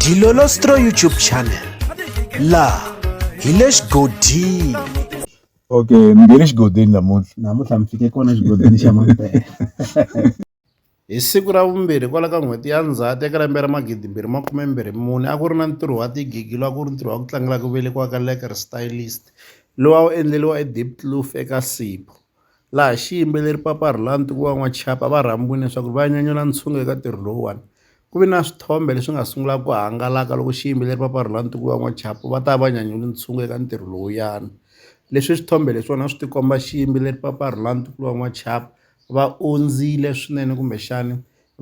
dilolostro youtube channel laha hi le xigodini okay mi nge le xigodini namuntlha namuntlha mi fike kona xigodini xa mampela hi siku ra vumbirhi kwala ka n'hweti ya ndzhati eka lembe ra magidi mbirhi makume mbirhi mune a ku ri na ntirho wa tigigi lowu a ku ri ntirho wa ku tlangela ku velekiwa ka leker stylist lowu a wu endleriwa edipkloof eka sipo laha xiyimbeleri Papa Rhulani wa N'waxapa va rhambiwile leswaku va nyanyula ntshungu eka ntirho lowuwani ku ve na swithombe leswi nga sungula ku hangalaka loko xiyimbeleri Papa Rhulani wa N'waxapa va ta va nyanyule ntshungu eka ntirho lowuyani leswi swithombe leswiwani a swi tikomba xiyimbeleri Papa Rhulani wa N'waxapa va ondzile swinene kumbexani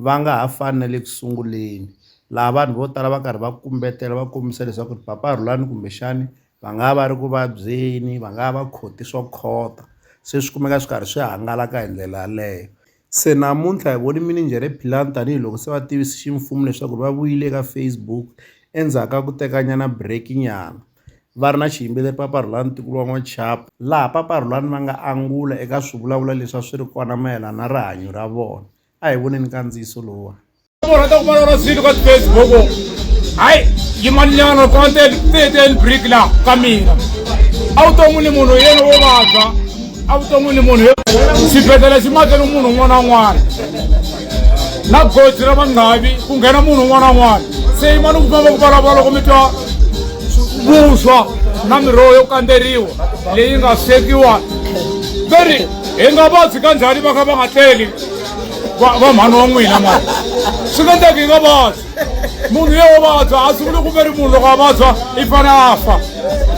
va nga ha fani na le ku sunguleni laha vanhu vo tala va karhi va kumbetela va kombisa leswaku Papa Rhulani kumbexani va nga va ri ku vabyeni va nga va khoti swo khota se swi kumeka swi karhi swi hangalaka hi ndlela yaleyo se namuntlha hi voni mininjhere Philani tanihiloko se va tivisi ximfumo leswaku va vuyile eka Facebook endzhaku ka ku tekanyana break nyana va ri na xiyimbeleri Papa Rhulani Ntikulu wa N'waxapa laha Papa Rhulani va nga angula eka swivulavula leswi a swi ri kona mayelana na rihanyo ra vona a hi voneni kandziyiso lowuwani. rhandza ku vona swilo ka facebook hayi yimaninyana konte teten brick la ka mina a wu to n'wi ni munhu yena wo vabya a wu to n'wi ni munhu xibedhlele xi makele munhu un'wana un'wana na goji ra vanghavi ku nghena munhu un'wana un'wana se yimani ku famba ku vulavula loko mi twa vuswa na miroho yo kandzeriwa leyi nga swekiwa veri hi nga vabyi ka njhani va kha va nga tleli va va mhani wa n'wina mani swi nga endleki hi nga vabyi munhu ye wo vabya a swi vuli ku ve ri munhu loko a vabya i fane a fa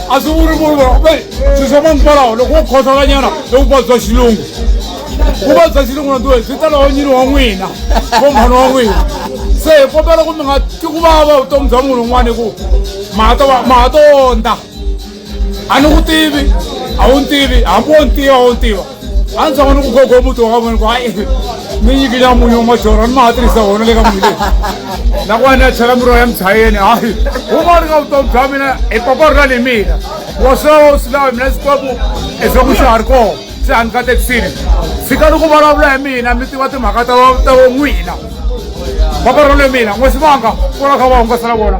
a swi vuli munhu ve swi swa mangikwalaho loko wo khohlolanyana i vuvabyi bya xilungu vuvabyi bya xilungu natiwe byi ta lawo nyini wa n'wina vo mhani wa n'wina se hi kombela ku mi nga ti ku vava vutomi bya munhu un'wana hi ku mahato mahato ondza a ni ku tivi a wu ni tivi hambi wo ni tiva a wu ni tiva a ni tshama ni ku gogo muti wa ka vona ku hayi ni nyikile munyu wa majora ni ma ha tirhisa wona le ka munyu leyi nakona ni ya chela miroho ya mchayeni hayi huma ri ka vutomi bya mina i papa ri ra ni mina wa swilawa u swilawa mina sikopu i swa ku xa ha ri kona se a ni ka tekisini fika ni ku vulavula hi mina mi tiva timhaka ta ta n'wina papa ri ra le mina n'wesivanga ku ra kha va hungasela vona